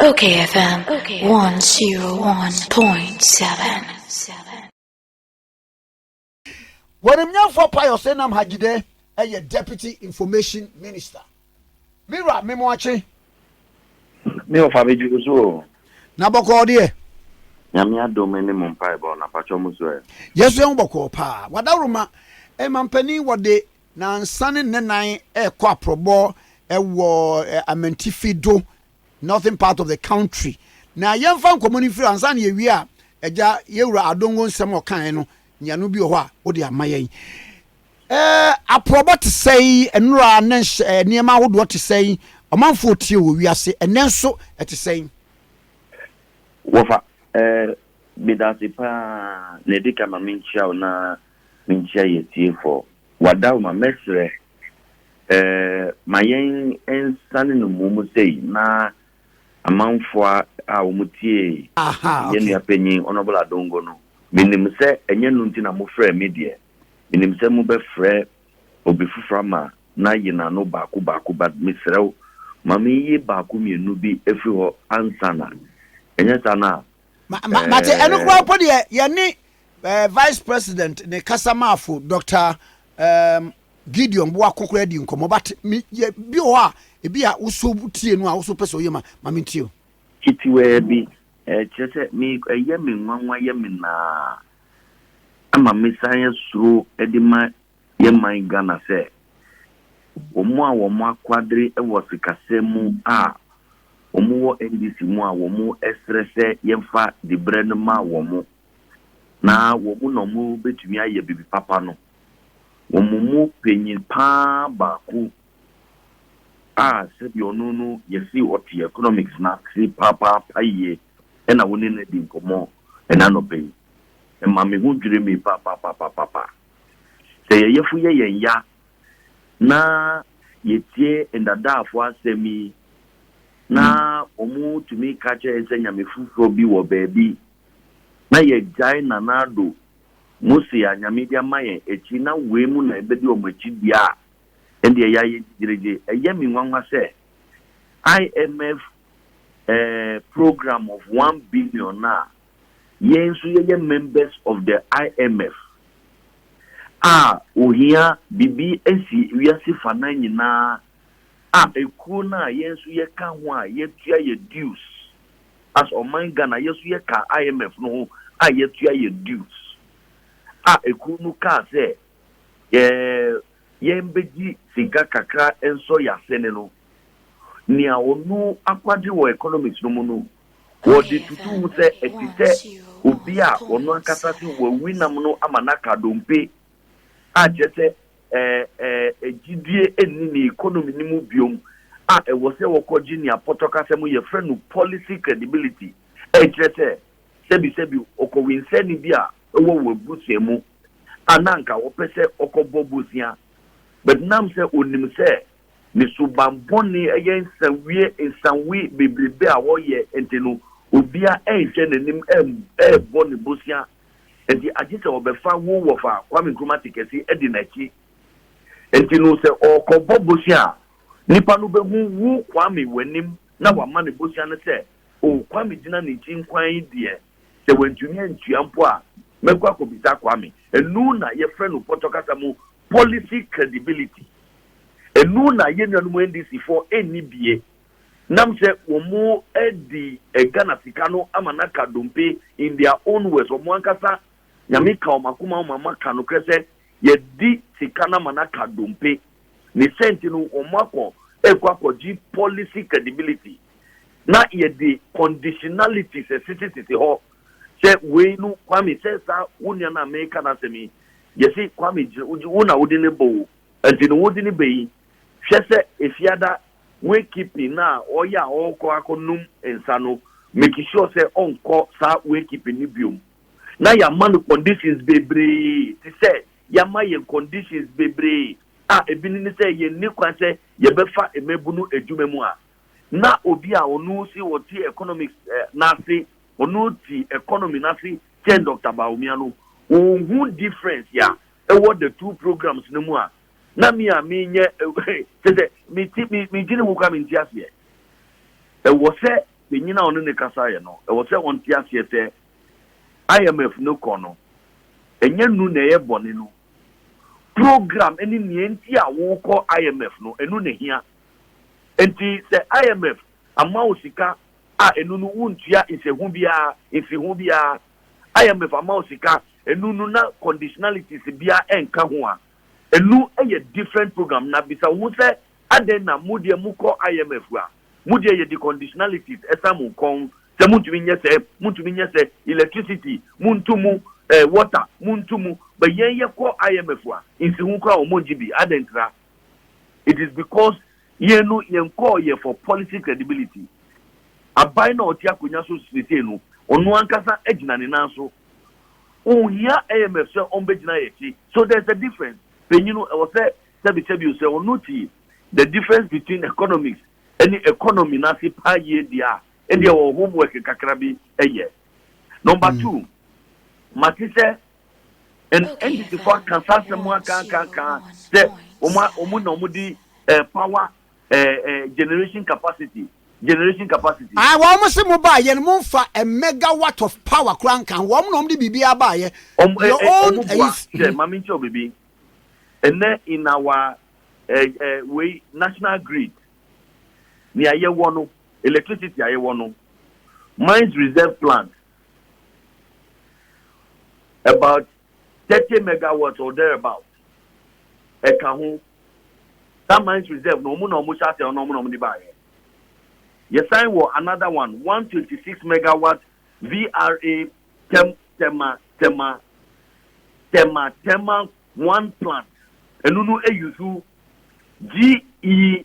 Okay FM 101.7 Wɔnimnyɛnfoɔ Pius Enam Hajidɛ yɛ Deputy Information Minister. Me wura me mo akye. Me ɔfa me dwuru so o. Na bɔkɔɔ deɛ. Nyame adom ne mo mpaebɔ na patwɔ mo so ɛ. Yɛso yɛn ho bɔkɔɔ paa. Wadaworoma, Ɛmampanin wɔde Nansa ne nnanan rekɔ aprɔbɔ wɔ Amantifi do, northern part of the country. Na yɛmfa nkɔmmɔ no mfiri hɔ. Ansa na yɛwie a, Agya, yɛwura Adongo nsɛm a ɔkaeɛ no, nyiano bi wɔ hɔ a wode ama yɛn. Eh, aprɔbɔ te sɛn, nnora ne nhyɛ, nneɛma ahodoɔ te sɛn, ɔmanfoɔ tie wɔ wiase, ɛnnɛ nso ɛte sɛn? Wɔfa, eh, meda ase paa, na ɛdi kan ma menkyia wo na Minkyia yɛ tiefɔɔ. W'adawoma mɛsrɛ eh ma yɛn nsane no mum sei na amanfoa a wɔn tiee yɛn nua panyin Honourable Adongo no menim sɛ ɛnyɛ no nti na mo frɛɛ me deɛ menim sɛ mo bɛfrɛ obi foforɔ ama na yi na no baako baako but mesrɛ wo ma me yi baako mmienu bi ɛfiri hɔ ansa na ɛnyɛ saa no a mate eh. ɛno koraa mpo deɛ yɛne eh, vice president ne kasamaafo dr um, gideon boako koraa di nkɔmmɔ but me yɛ bi wɔ hɔ a ebi a woso tie no a woso pɛ sɛ ɔyɛ ma ma me ntie o titiwaa bi ɛkyerɛ sɛ me ɛyɛ me nwanwa yɛ me naa ama mesan asuro de ma Yɛ man Ghana sɛ wɔn a wɔn akwadre wɔ sikasɛm mu a wɔn wɔ NDC mu a wɔn srɛ sɛ yɛnfa dibrɛ no ma wɔn na wɔn na wɔn bɛtumi ayɛ bibi papa no wɔn mu panyin paa baako a sɛbi ɔno no yɛsi ɔte economics na se papaapa yie ɛna wɔn ne no adi nkɔmɔ ɛna nɔpɛ yi ɛma me ho dwiri me papapapapapaapa. Sɛ yɛn yafunu yɛ yɛn ya na yɛtie ndadaafo asɛm yi na wɔtumi ka kyerɛ yɛn sɛ nyame foforɔ bi wɔ baabi na yɛgyae Nana Addo, Mose a Nyame de ama yɛn akyi na wei mu na yɛbɛdi wɔn akyi deɛ a, ɛndeɛ yɛayɛ gyigyiregye. Ɛyɛ me nwanwa sɛ IMF eh, program of one billion no a yɛn nso yɛyɛ members of the IMF a ohia biribi asi wiase fanan nyinaa a ekuo no a yɛn nso yɛka ho a yɛtua yɛ dues as ɔman Ghana yɛn nso yɛka IMF no ho a yɛtua yɛ dues a ekuo no kaa sɛ yɛ yɛn bɛgye sika kakra nsɔ yɛ asene no nea ɔno akwade wɔ economics no mu no Wɔde tutu ho sɛ ɛte sɛ obi a ɔno ankasa se wawi nam no ama no aka dompe, a kyerɛ sɛ ɛɛ gyidie nni ne economy no mu biom, a ɛwɔ sɛ wɔkɔgye nea pɔtɔ kasa mu yɛfrɛ no policy credibility, a ɛkyerɛ sɛ sɛbisɛbi ɔkɔwensɛɛni bi a ɛwɔ wɔn abusua mu a na anka ɔpɛ sɛ ɔkɔbɔ bosea but nam sɛ ɔnim sɛ ne suban bɔne yɛ nsawie nsawe bebrebe a wɔyɛ nti no, obiara renhwɛ n'anim rebɔ ne bosea nti agye sɛ ɔbɛfa wo wɔfa Kwame Nkrumah te kɛse di n'akyi nti no sɛ ɔrekɔbɔ bosea a nipa no bɛhu wo Kwame w'anim na wama no bosea no sɛ o Kwame gyina ne nkyi nkwan yi deɛ sɛ wantumi antua mpo a mɛkɔ akɔbisa Kwame ɛnu na yɛfrɛ no pɔtɔ kasa mu policy credibility Enu na yɛn nuanom NDC foɔ nni bie nam sɛ wɔadi Ghana sika no ama no aka dompe in their own words, wɔn ankasa Nyame ka wɔn akoma ma wɔaka nokorɛ sɛ yɛadi sika no ama no aka dompe. Ne sɛ nti no wɔn akɔ ɛkɔ akɔgye policy credibility na yɛde conditionalities ɛsese sese hɔ sɛ wei no Kwame sɛ saa wo nua no a meka n'asɛm yi yɛse Kwame gyina wo na wode no bɔ o. Enti no wo dini bɛ yi? Hwɛ sɛ efiada way keeping no a ɔyɛ a ɔkɔ akɔ nom nsa no make sure sɛ ɔnkɔ saa way keeping no biom. Na yama no conditions bebree te sɛ yama yɛn conditions bebree a ebi no ne sɛ yɛn ni kwan sɛ yɛbɛ fa mmabunu adwuma mu a. Na obi a ɔno se ɔte economics no ase ɔno te economy no ase kyɛn Doctor Bawumia no ɔnhu difference a Wɔ the two programs no mu a, na me a menyɛ kyɛ sɛ mete me megye ne ho koraa mente aseɛ. Ɛwɔ sɛ panyin a ɔne ne kasaeɛ no, ɛwɔ sɛ ɔnte aseɛ sɛ IMF no kɔ no, ɛnyɛ nu na ɛyɛ bɔne no. Program ne nea enti a wokɔ IMF no, ɛno na ɛhia. Enti sɛ IMF ama wo sika a ɛno no wontua nhyɛho biara, mfiho biara. IMF ama wo sika Enu no na conditionalities biara nka ho a, enu yɛ different program. Na bisa wo ho sɛ, Adɛn na mo deɛ mo kɔ IMF a, mo deɛ yɛde conditionalities san mo nkɔn sɛ montumi nyɛ sɛ, montumi nyɛ sɛ, electricity, montu mu, eh, water, montu mu, but yɛn yɛkɔ IMF a, nsiho koraa wɔn nngye bi. Adɛn ntira? It is because Yɛn no yɛn kɔɔ yɛ for policy credibility. Aban no a ɔte akonwa so seesei no, ɔno ankasa agyina ne nan so. Onhia IMF sɛ ɔmbɛgyina yɛ akyi. So there's a difference. Panyin no ɛwɔ sɛ sɛbi sɛbi o, sɛ ɔno te the difference between economics ɛne economy no ase paa yie deɛ a, ɛdeɛ ɔwɔ homework kakrabi ɛyɛ. Number two, mate sɛ NDCfoɔ aka saa asɛm mu aka aka aka sɛ wɔn na wɔde eh, power eh, eh, generation capacity generation capacity. Ah, wɔn mo se mo ba yɛn mo nfa a megawatt of power kura nka ho wɔn na wɔn de biribi aba yɛ. Wɔn eh, eh, wɔn bua sɛ mhm. maame nkyɛn bibi ɛnɛ in our eh, eh, wei national grid nea yɛwɔ no electricity a yɛwɔ no mines reserve plant About thirty megawatts or thereabout ɛka ho. Saa mines reserve no, wɔn na wɔhyɛ ase ɛno na wɔn na wɔde baeɛ. Yɛsan wɔ another one, one twenty six megawatt VRA Tem Tema Tema Tema Tema one plant. Ɛno no eyi so GE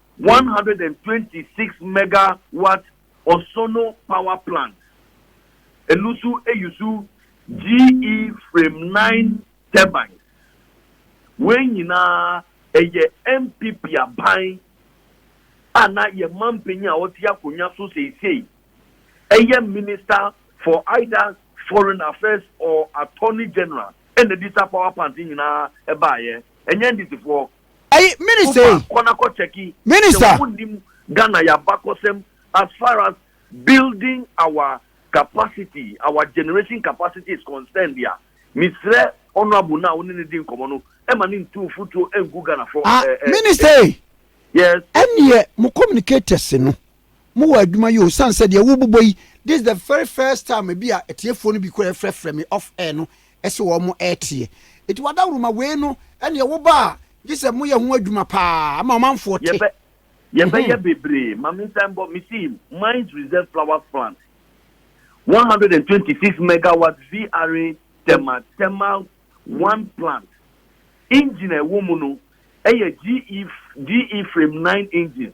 One hundred and twenty six mega watt Ɔsono power plant, eno nso use GE frame nine turbines. Wei nyinaa ɛyɛ NPP aban a na yɛn manpanyin a ɔte akonwa so seisei ɛyɛ minister for either foreign affairs or attorney general ɛna ɛde saa power plant nyinaa ɛbaeɛ, ɛnyɛ NDCfoɔ. Ɛyi minister yi. Kɔ na kɔ check yi. Minister. Sɛ wɔn nim Ghana yabakɔsɛm as far as building our capacity our generation capacity is concerned deɛ mesrɛ honourable no a wo ne ne di nkɔmɔ no ɛma ne ntu mfutuo ngu Ghana fɔ. Ah minister yi. Yes. Ɛnneɛ mo communicators no. Mowɔ adwuma yi o sane sɛ deɛ wobobɔ yi this the very first time ebi a atiefoɔ no bi kura ɛfrɛfrɛ me off air no ɛsɛ wɔn mo ɛteɛ eti wadawuruma wei no ɛneɛ woba a gye sɛ moyɛ ho adwuma paa ama ɔmanfoɔ te Yɛbɛ yɛbɛyɛ bebree ma me nsa mbɔ me see mines reserve flowers plant one hundred and twenty six megawatt VRA therma thermal one plant engine a ɛwɔ mu no ɛyɛ GE GE frame nine engines.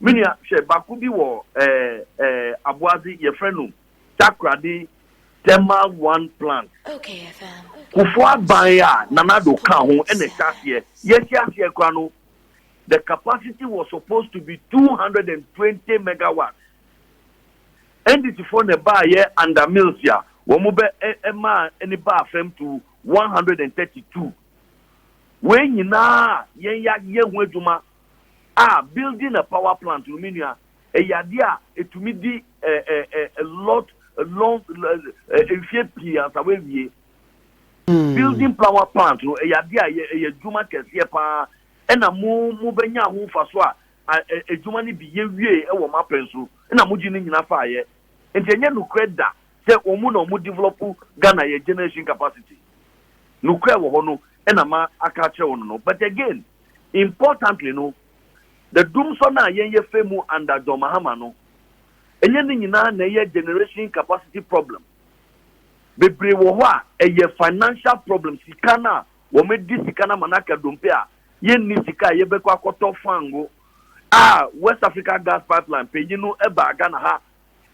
Me nua, hwɛ, baako bi wɔ ɛɛ, ɛɛ, Aboadze, yɛfrɛ no Takoradi Thermal One Plant. Kufuor aban a Nana Addo kã ho na ɛhyɛ aseɛ. Yɛhyɛ aseɛ koraa no, the capacity was supposed to be two hundred and twenty megawatts. NDCfoɔ na ɛbaeɛ under Mills a wɔn bɛ ɛ ɛmaa ɛne baa fam to one hundred and thirty two. Wei nyinaa yɛn yɛayɛ ho adwuma Ah building a power plant no me nua ɛyɛ adeɛ a ɛtumi di eh, eh, eh, a lot a long eh, mfie pii ansa wawie hmm. building power plant no ɛyɛ adeɛ a ɛyɛ adwuma kɛseɛ paa ɛna mo mo bɛnya ho mfa so a adwuma no bi yɛwie wɔ mapɛn so ɛna mogye no nyina faayɛ nti ɛnyɛ nokorɛ da sɛ wɔn na wɔn develop ghana yɛ generation capacity nokorɛ wɔ hɔ no ɛna ma aka akyerɛ wɔn no but again Importantly no, the dumsor no a yɛn yɛfa mu under John Mahama no, ɛnyɛ ne nyinaa na ɛyɛ generation capacity problem. Bebree wɔ hɔ a, ɛyɛ financial problem, sika no a wɔde sika no ama no aka dompe a yɛnni sika a yɛbɛkɔ akɔtɔ fango a West Africa Gas Pipeline panyin no baa Ghana ha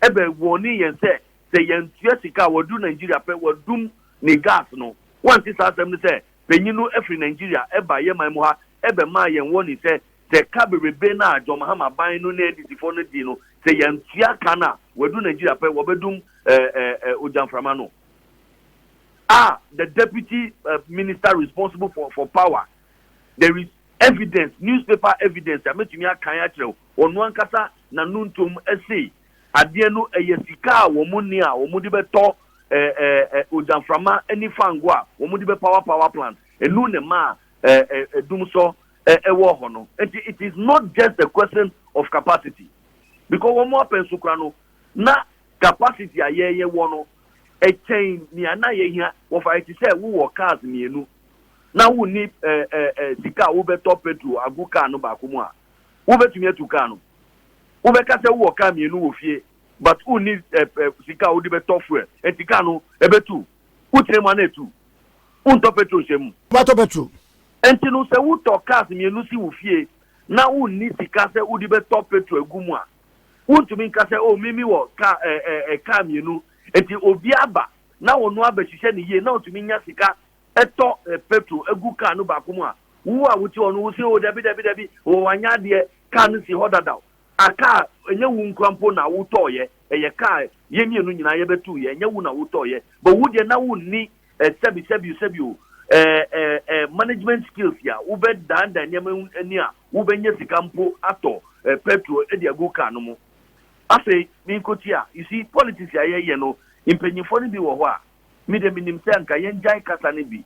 ɛbɛ wɔne yɛn sɛ sɛ yɛntua sika a wɔadu Nigeria pɛ wɔadum ne gas no. Wɔnte saa asɛm no sɛ panyin no firi Nigeria baa yɛn man mu ha bɛmaa yɛn warning sɛ, sɛ ɛka bebrebe no a John Mahama ban no ne NDC foɔ no dii no, sɛ yɛantua ka no a, wɔadu Nigeria pɛ, wɔbɛdum ogyamframa no. A The Deputy Minister responsible for for power, there is evidence, newspaper evidence a mɛtumi akan akyerɛ wo, ɔno ankasa n'anontom sei. Adeɛ no ɛyɛ sika a wɔn nni a wɔn de bɛtɔ ɛɛ ɛɛ ogyaframa ɛne fango a wɔn de bɛpawa power plant. Ɛnu na ɛma ɛɛ ɛɛ dumsɔ ɛɛ ɛwɔ hɔ no. Nti it is not just a question of capacity because wɔn apɛ nso kora no na capacity a yɛn yɛwɔ no ɛkyɛn nea na yɛhia. Wɔfa yɛ te sɛ wo wɔ cars mmienu na wo nni ɛɛ ɛɛ sika a wo bɛtɔ petrol agu car no baako mu a wo bɛtumi atu car no. Wobɛka sɛ wowɔ car mmienu wɔ fie but wonni sika a wode bɛtɔ fuel nti car no ɛbɛtu. Wotena mu a na ɛtu. Wontɔ petrol nhyɛ mu. Wobɛtɔ petrol. Nti no sɛ wotɔ cars mmienu si wo fie na wonni sika sɛ wode bɛtɔ petrol agu mu a, wontumi nka sɛ oh me mewɔ car ɛɛ car mmienu nti obi aba na ɔno abɛhyehyɛ no yie na ɔtumi nya sika tɔ petro gu kaa no baako mu a, wo a wote hɔ no, wo se, O dabi, dabi, dabi, o wanyɛ adeɛ, kaa no si hɔ dadaw. A kaa, ɛnyɛ wo nkura mpo na wotɔɔyɛ, ɛyɛ kaa, yɛn mmienu nyinaa yɛbɛtuuyɛ, ɛnyɛ wo na wotɔɔyɛ, but wo deɛ na wonni eh, sɛbi, sɛbi, sɛbi o, eh, eh, eh, management skills a wobɛdandan nneɛma ho ani a wobɛnya sika mpo atɔ eh, petro de agu kaa no mu. Afei, menkotia, you see, politics a yɛyɛ no, mpanyinfoɔ no bi wɔ hɔ a, Me deɛ menim sɛ anka yɛngyae kasa no bi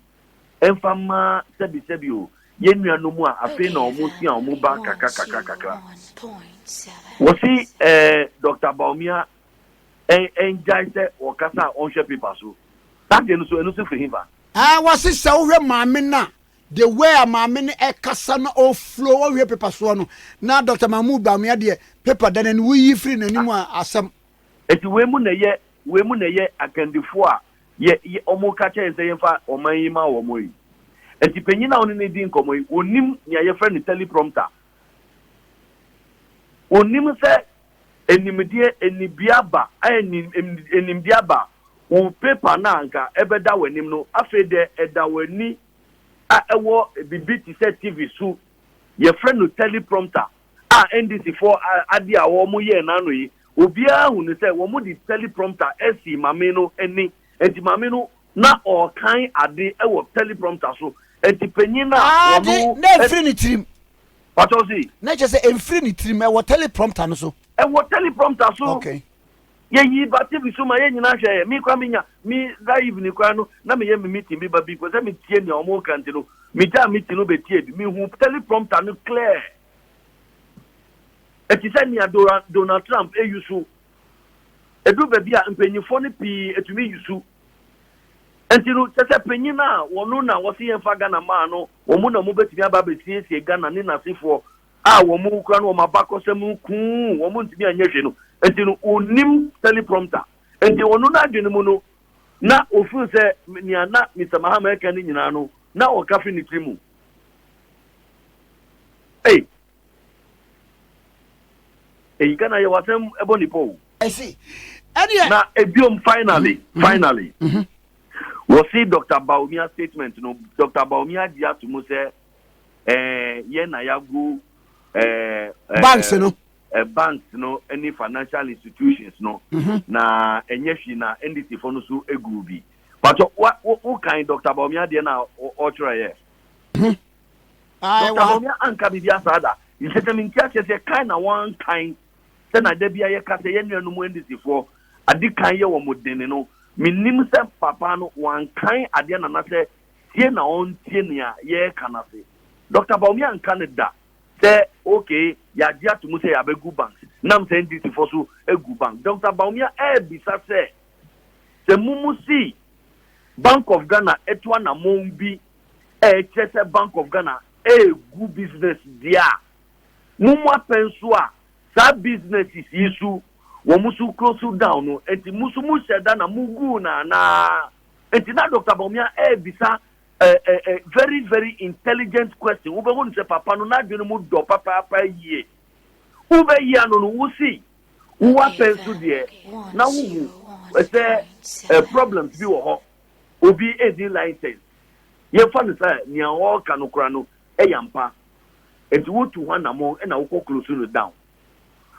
mfa mma sɛbisɛbi o, yɛn nuanom a afei na wɔn sua a wɔn ba kakra kakra kakra. Wɔsi eh, Doctor Bawumia eh, ɛngyae sɛ wɔkasa a wɔnhwɛ paper so. Saa deɛ no so, ɛno so firi hefa? Eh, wɔsi sɛ wohwɛ maame no a, the way a maame no ɛkasa na ɔflow, ɔnhwɛ paper soɔ no, na Doctor Mahmood Bawumia deɛ paper da n'ani, woyi firi n'anim a asɛm. Enti wei mu na ɛyɛ wei mu na ɛyɛ akandifoɔ a yɛ yɛ wɔreka kyerɛ yɛn sɛ yɛmfa ɔman yi ma wɔn yi. Enti panyin a wɔne no redi nkɔmmɔ yi, ɔnim nea yɛfrɛ no teleprompter. Ɔnim sɛ animdeɛ anibea ba a anim animdeɛ aba a, wo paper no a anka ɛbɛda w'anim no, afei deɛ ɛda w'ani a ɛwɔ biribi te sɛ TV so. Yɛfrɛ no teleprompter. a NDC foɔ ade a wɔn yɛɛ no ano yi, obiara hunu sɛ wɔn de teleprompter ɛsii mame no ani, ɛnti mame no na ɔɔkan ade ɛwɔ teleprompter so, ɛnti panyin no a wɔn. Ade, na ɛnfiri ne tirim. Pakyɛw se. Na kyerɛ sɛ ɛnfiri ne tirim, ɛwɔ teleprompter no so. Ɛwɔ teleprompter so. Okay. Yɛyii ba TV so ma yɛn nyinaa hwɛeɛ. Me koraa menya me that evening koraa no na meyɛ me meeting bi ba before sɛ metie nea wɔn reka nti no megyaa meeting no bɛtiee bi. Mehu teleprompter no clear. Ɛte sɛ nea Donald Trump ayusu. Ɛduru baabi a mpanyinfoɔ no pii atumi yusu. Nti no kyɛ sɛ panyin a wɔn na wɔsi yɛn fa Ghana maa no wɔn na wɔn bɛtumi aba abɛsiesie Ghana ne n'asefoɔ a wɔn kura no wɔn abakɔsɛm no kuu wɔn ntumi anyɛ hwɛ no nti no onim teleprompter nti ɔno n'adwene mu no na ofun sɛ nea na Mr Mahama ɛka ne nyinaa no na ɔka fi ne tiri mu ei eyi ka na yɛ wasɛm ɛbɔ nipa o na ebiom finally mm-hmm. Mm-hmm. finally mm-hmm. wɔsi Dr Bawumia statement no Dr Bawumia gye ato mu sɛ eh, yɛn na yɛagu eh, eh, banks no eh, banks no ne financial institutions no mm-hmm. na ɛnyɛ hwee na ndc fo no so egu bi patɔ wokan dr baomia deɛ na ɔtwerɛeɛ mm-hmm. dr baomia anka biribi asaa da nkyɛ sɛ menti akyɛ sɛ kan na wɔnkan sɛ na da bia yɛka sɛ yɛn nuanom ndc foɔ ade kan yɛ wɔn dene no menim sɛ papa no wɔankan adeɛ nana sɛ tie na ɔntie nea yɛreka no ase. Dɔkta Bawumia anka no da sɛ okay, yɛagye ato mu sɛ yɛabɛgu bank nam sɛ NDC foɔ so agu bank. Dɔkta Bawumia ɛrebisa sɛ, sɛ momu se Bank of Ghana atu anamɔn bi a ɛkyerɛ sɛ Bank of Ghana ɛregu business deɛ a, momu apɛn so a saa businesses yi so wɔn so close down no, ɛnti mo so mohyɛ da na moguu no anaa? Nti na Doctor Bawumia ɛɛbisa ɛɛ very very intelligent question, wo bɛ hu no sɛ papa no n'adwene mu dɔ papaapa yie. Wo bɛ yi ano no wo si, wo wa pɛ nso deɛ na wo hu sɛ ɛɛ problems bi wɔ hɔ, obi ɛnni license, yɛn fa no sɛ nea ɔɔka no kora no ɛyɛ ampa, nti wo tu ho anamɔn ɛna wo kɔ close no down.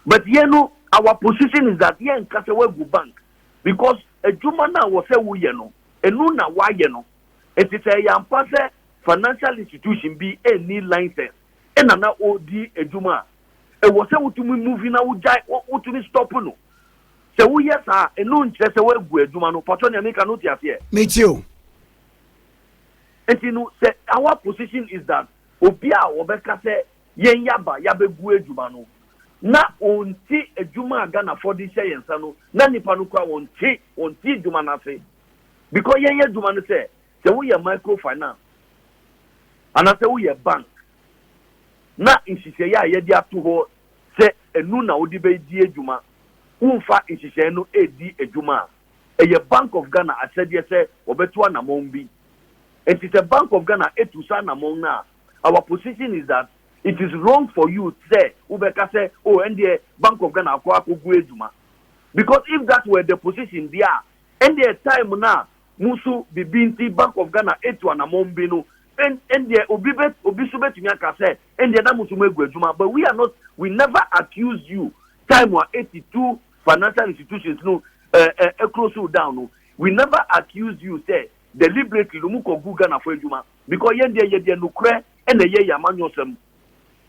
But yɛn no our position is that yɛn nka sɛ wagu bank, because adwuma no a wɔ sɛ woyɛ no ɛno na woayɛ no nti sɛ ɛyɛ ampa sɛ financial institution bi ɛnni license ɛna na ɔredi adwuma a ɛwɔ sɛ wotumi move na wogyae wotumi stop no sɛ woyɛ saa ɛno nkyerɛ sɛ woagu adwuma no patɔ nea meka no te aseɛ meti o nti no sɛ our position is that obi a wɔbɛka sɛ yɛn yaba yabɛgu adwuma no na ɔnte adwuma a Ghanafoɔ de hyɛ yɛn nsa no na nnipa no koraa ɔnte ɔnte adwuma no ase because yɛn adwuma no sɛ sɛ woyɛ micro finance anaasɛ woyɛ bank na nhyehyɛeɛ a yɛde ato hɔ sɛ ɛnu na wode bɛdi adwuma womfa nhyehyɛeɛ no ɛredi adwuma a ɛyɛ Bank of Ghana ahyɛdeɛ sɛ wɔbɛto anamɔn bi nti sɛ Bank of Ghana ɛtu saa anamɔn no a our position is that it is wrong for you sɛ wobɛka sɛ oh ɛndeɛ bank of Ghana akɔ akɔgu adwuma because if that were the position deɛ a ɛndeɛ time no a mo nso biribi nti bank of Ghana etu anamɔn bi no ɛndeɛ obi bɛ obi nso bɛtumi aka sɛ ɛndeɛ na mo nso mo agu adwuma but we are not we never accuse you time a eti tu financial institutions no ɛɛ ɛɛ close down no we never accuse you sɛ deliberately no mo kɔ gu Ghana fo adwuma. Because yɛn deɛ yɛdeɛ nokorɛ na ɛyɛ yɛn amanyɔsɛm.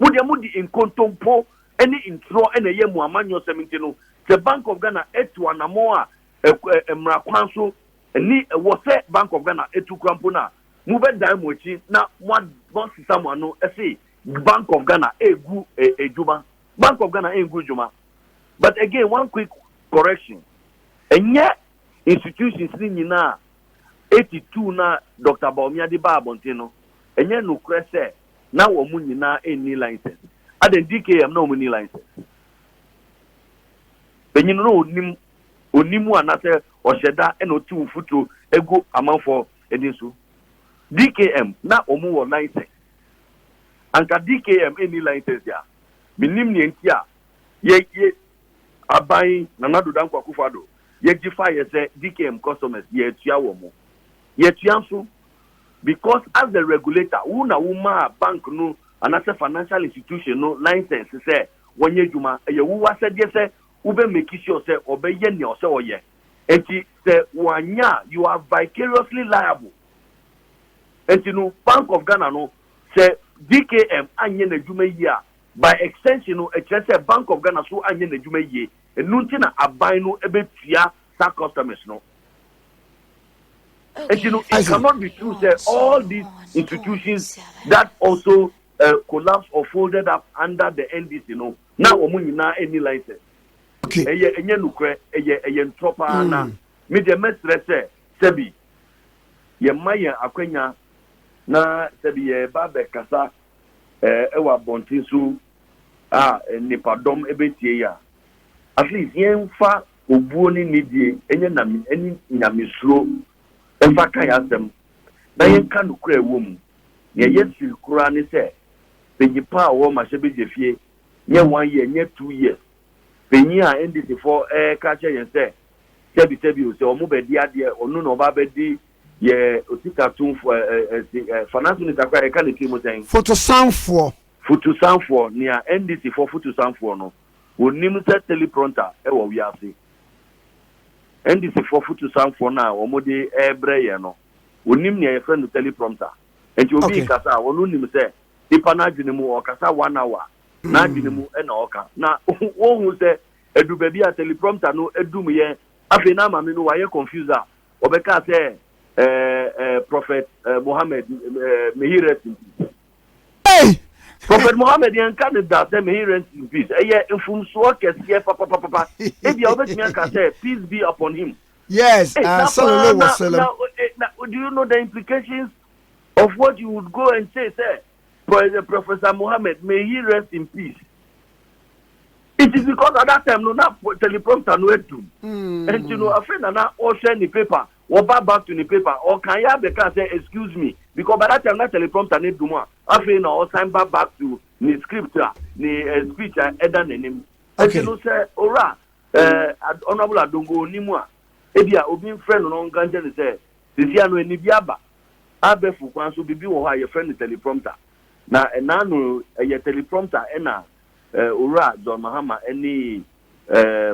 Mo deɛ mo de nkontompo ne ntorɔ na ɛyɛ mo amanyɔsɛm nti no, sɛ Bank of Ghana atu anamɔn a mmara kwan so ne ɛwɔ sɛ Bank of Ghana tu kora mpo no a, mo bɛ dan mo akyi na mo asesa mo ano se Bank of Ghana ɛgu dwuma. Bank of Ghana ɛngu dwuma. But again one quick correction, ɛnyɛ institutions no nyina a attitude no a Dɔkta Bawumia de baa abɔnten no, ɛnyɛ nokorɛ sɛ na wɔn nyina nni license. Adɛn, DKM na wɔnni license? Banyin no ɔnnim, ɔnnim anasɛ ɔhyɛ da na ɔte wo futuro gu amanfoɔ ani so. DKM na wɔn wɔ license. Anka DKM nni license a, mennim neɛ nti a yɛ, yɛ, Aban Nana Addo Dankwa Akufo Addo yɛgye faeɛ sɛ DKM customers yɛatua wɔn. Yɛatua nso because as the regulator wo na wo maa bank no anaasɛ financial institution no license sɛ wɔnyɛ adwuma. Ɛyɛ wo w'asɛdeɛ sɛ wo bɛ make sure sɛ ɔbɛyɛ nea ɔsɛ ɔyɛ. Nti sɛ wɔanyɛ a you are vicariously liable. Nti no Bank of Ghana no sɛ DKM anyɛ n'adwuma yie a By extension no, ɛkyerɛ sɛ Bank of Ghana so anyɛ n'adwuma yie, ɛno nti na aban no bɛtua saa customers no. Nti no, it cannot be true sɛ all these institutions that also collapsed or folded up under the NDC no, na wɔn nyinaa nni license. Ɛyɛ, ɛnyɛ nokorɛ, ɛyɛ, ɛyɛ ntorɔ pa ara na me deɛ mɛsrɛ sɛ sɛbi yɛmma yɛn akwanya na sɛbi yɛreba abɛkasa wɔ abɔnten so a nnipadɔm bɛtie yɛn a, at least yɛmfa obuo ne nidie nyɛ name ne nyamesuro mfa ka yɛn asɛm na yɛnka nokorɛ a ɛwɔ mu. Nea ɛyɛ siri koraa ne sɛ, panyin pa a ɔwɔ Mahyɛbegyefie nyɛ one year, nyɛ two years, panyin a NDCfoɔ reka akyerɛ yɛn sɛ sɛbi sɛbi o, sɛ wɔbɛdi adeɛ ɔno na ɔba abɛdi Yɛ osikatomfo a, ɛ, ɛ, se, ɛ, fa n'aso nisa koraa a, yɛka ne tirim sɛn? Fotosanfoɔ. Fotosanfoɔ, nea NDCfoɔ fotosanfoɔ no, wɔnnim sɛ teleprompter wɔ wiase. NDCfoɔ fotosanfoɔ no a wɔde rebrɛ yɛn no, wɔnnim nea yɛfrɛ no teleprompter. Enti obi Okay. rekasa a, ɔno nim sɛ nipa no adwene mu ɔkasa one hour, n'adwene mu na ɔka. Na wɔnhu sɛ ɛdu baabi a teleprompter no dum yɛn, afei na maame no wayɛ confused a, wɔbɛka sɛ ɛɛ prɔfɛt mohammed mehirɛsi mpi prɔfɛt mohammed yɛn nka ne da sɛ mehirɛsi mpi ɛyɛ mfomsoɔ kɛseɛ papapapa ebi a wɔbɛtumi aka sɛ peace be upon him yes eh, uh, sallallahu alaihi wasallam do you know the implications of what you would go and say sɛ Prof Professor Mohammed may he rest in peace it is because at that time no na teleprompter no adum ɛnti no afei na na ɔhwɛ ne paper wɔba back to ne paper ɔkan yɛ abɛka sɛ excuse me because by that time na teleprompter no adum a afei na ɔsan ba back to ne script a ne eh, speech a ɛda n'anim ɛnti no sɛ owura eh, honourable adongo onimu a ebi a obi nfrɛ no na ɔnka nkyɛn ne sɛ Sɛsi ano ɛnne bi aba. Abɛfo kwan so biribi wɔ hɔ a yɛfrɛ no teleprompter. Na ɛna ano yi ɛyɛ teleprompter ɛna Owura John Mahama ɛne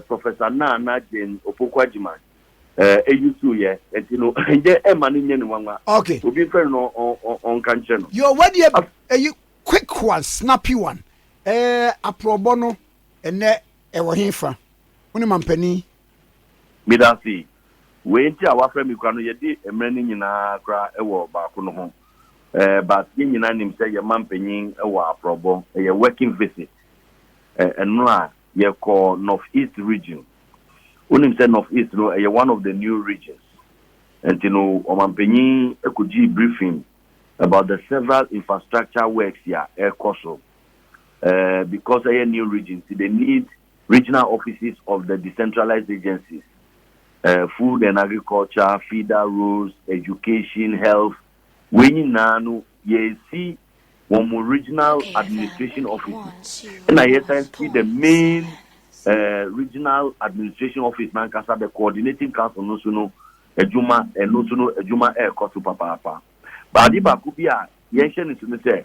Professor Nana Jane Opoku Agyemang ɛyusu yɛ. Ɛnti no ɛnyɛ ɛma no nyɛ no nwanwa. Obi mfrɛ no na ɔnka nkyerɛ no. Yo wadi ɛyi quick one snappy one. Ɛɛ aprɔbɔ no ɛnɛ ɛwɔ he fa? Wo ne mampanin Medase. Wei nti a wafrɛ me kura no yɛdi mmerɛ no nyinaa kora wɔ baako no ho eh but yɛn nyinaa nim sɛ yɛn manpanyin wɔ aprɔbɔ ɛyɛ working visit eh ɛno a yɛkɔ North East region wonim sɛ North East no ɛyɛ one of the new regions nti no ɔmanpanyin kɔgyii briefing about the several infrastructure works a ɛrekɔ so eh because ɛyɛ new region nti they need Regional offices of the decentralized agencies, eh, food and agriculture, feeder, roads, education, health, wei nyinaa no yɛsi wɔn mo regional administration offices ɛna yɛsan si the main eh, regional administration office nankasa the coordinating council no so no adwuma ɛno so no adwuma ɛrekɔ so papaapa baade baako bi a yɛnhyɛ no so no sɛ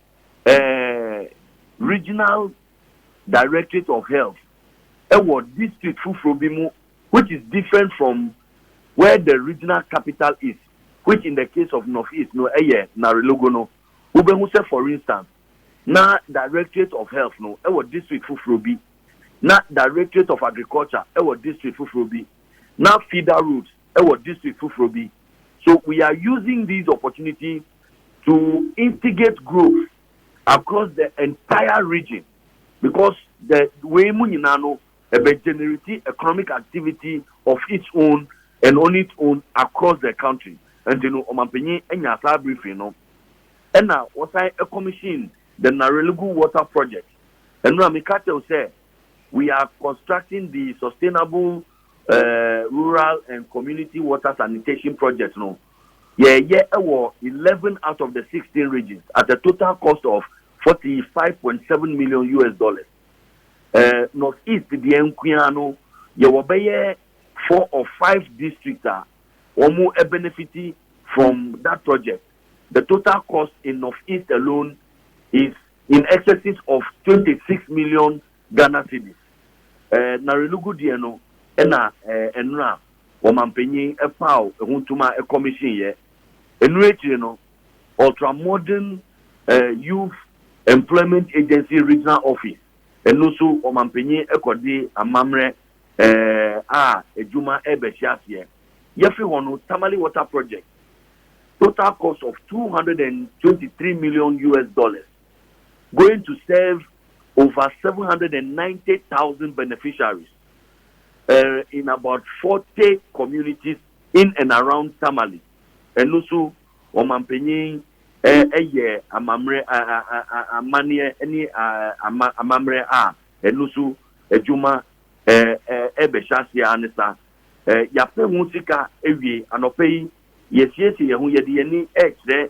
eh, Regional Directorate of Health ɛwɔ district foforɔ bi mu which is different from where the regional capital is which in the case of North East no ɛyɛ Narelogo no wobɛhu sɛ for instance na Directorate of Health no ɛwɔ district foforɔ bi na Directorate of Agriculture ɛwɔ district foforɔ bi na Feeder Roads ɛwɔ district foforɔ bi so we are using these opportunities to instigate growth across the entire region because the wei mu nyinaa no ɛbɛ generate economic activity of its own and on its own across the country nti no ɔmanpanyin anya saa briefing no ɛna wɔsan commission the Narelgu water project ɛno a meka kyɛw sɛ we are constructing the sustainable uh, rural and community water sanitation project no Yɛɛyɛ wɔ eleven out of the sixteen regions at a total cost of forty five point seven million US dollars. Ɛɛ North East deɛ nkoaa no, yɛwɔ bɛyɛ four or five districts a wɔn ɛbenefiti from that project. The total cost in North East alone is in excesses of twenty six million Ghana cedis. Ɛɛ Narenugu deɛ no na ɛnora wɔmanpanyin paw ho tum a ɛkɔmihyin yɛ. Ɛno akyiri no, Ultramodern Youth Employment Agency Regional Office, ɛno nso wɔmanpanyin kɔde amamerɛ a adwuma ɛrebɛhyɛ aseɛ. Yɛfe hɔ no, Tamale Water Project, total cost of two hundred and twenty three million US dollars. going to serve over 790,000 beneficiaries uh, in about 40 communities in and around Tamale. Ɛno nso ɔmanpanyin ɛyɛ amammerɛ amanneɛ ne amammerɛ a ɛno nso adwuma ɛbɛhyɛ aseɛ ara ne saa yɛapɛ ho sika awie anɔpɛ yi yɛsiesie yɛn ho yɛde yɛn ani ɛrekyerɛ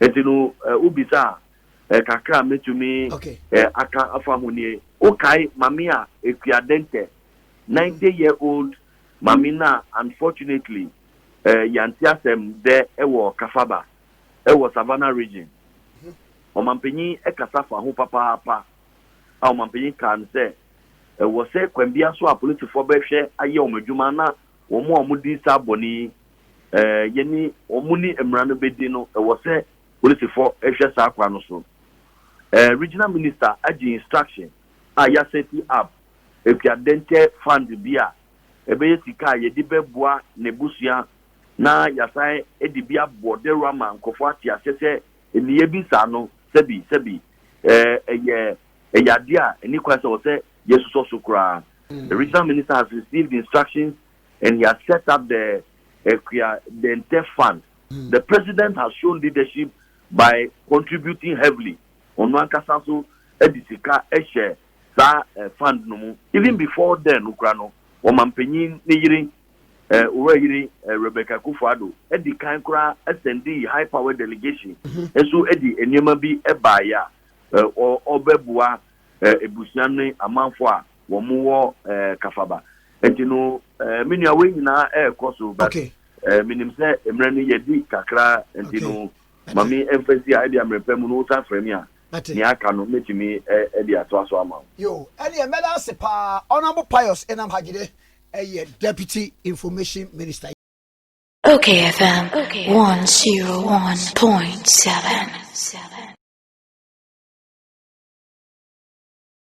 nti no wobisa a kakra a mɛtumi aka afa ho nie wokae mame a ɛkua dɛntɛ 90 year old mame no a unfortunately yɛante asɛm dɛ ɛwɔ kafaba ɛwɔ savannah region ɔmampanyin ɛkasa fa ho papaapa a ɔmampanyin kaa no sɛ ɛwɔ sɛ kwan bia so a polisifoɔ bɛhwɛ ayɛ wɔn adwuma na wɔn a wɔdi saa bɔne yi yɛne wɔn ne mmara no bɛdi no, ɛwɔ sɛ polisifɔ hwɛ saa kwan no so. Regional Minister agye instruction a yɛ asɛti up akuadɛntɛ fund bi a ɛbɛyɛ sika a yɛde bɛboa n'abusua na yɛasan de bi abɔ dawuro ama nkurɔfoɔ ate aseɛ sɛ nneyɛɛ bi saa no sɛbi sɛbi ɛyɛ ɛyɛ adeɛ a ɛni kwan sɛ wɔ sɛ yɛsusɔ so koraa. The regional minister has received instructions and he has set up the Akua Dente Fund. The president has shown leadership by contributing heavily, ɔno ankasa nso de sika hyɛ saa fund no mu. Even before then no kura no, ɔmampanyin ne yere, Owura Yere Rebecca Akufo-Addo di kan koraa asɛndii high power delegation nso de nneɛma bi baeɛ a ɔbɛboa abusua ne amanfoɔ a wɔn wɔ ɛɛ kafaba nti no ɛɛ mi nua wei nyinaa ɛɛkɔ so but okay. ɛɛ mi nim sɛ mmerɛ no yɛ di kakra nti okay. no maame ɛnfɛsi a ɛdi amere pɛ mu no wosan fira mi a nea aka no mɛtumi ɛdi ato aso ama. yo ɛni ɛmɛda ase paa ɔnabɔ pius ɛnam hagyide ɛyɛ deputy information minister. Okay FM 101.7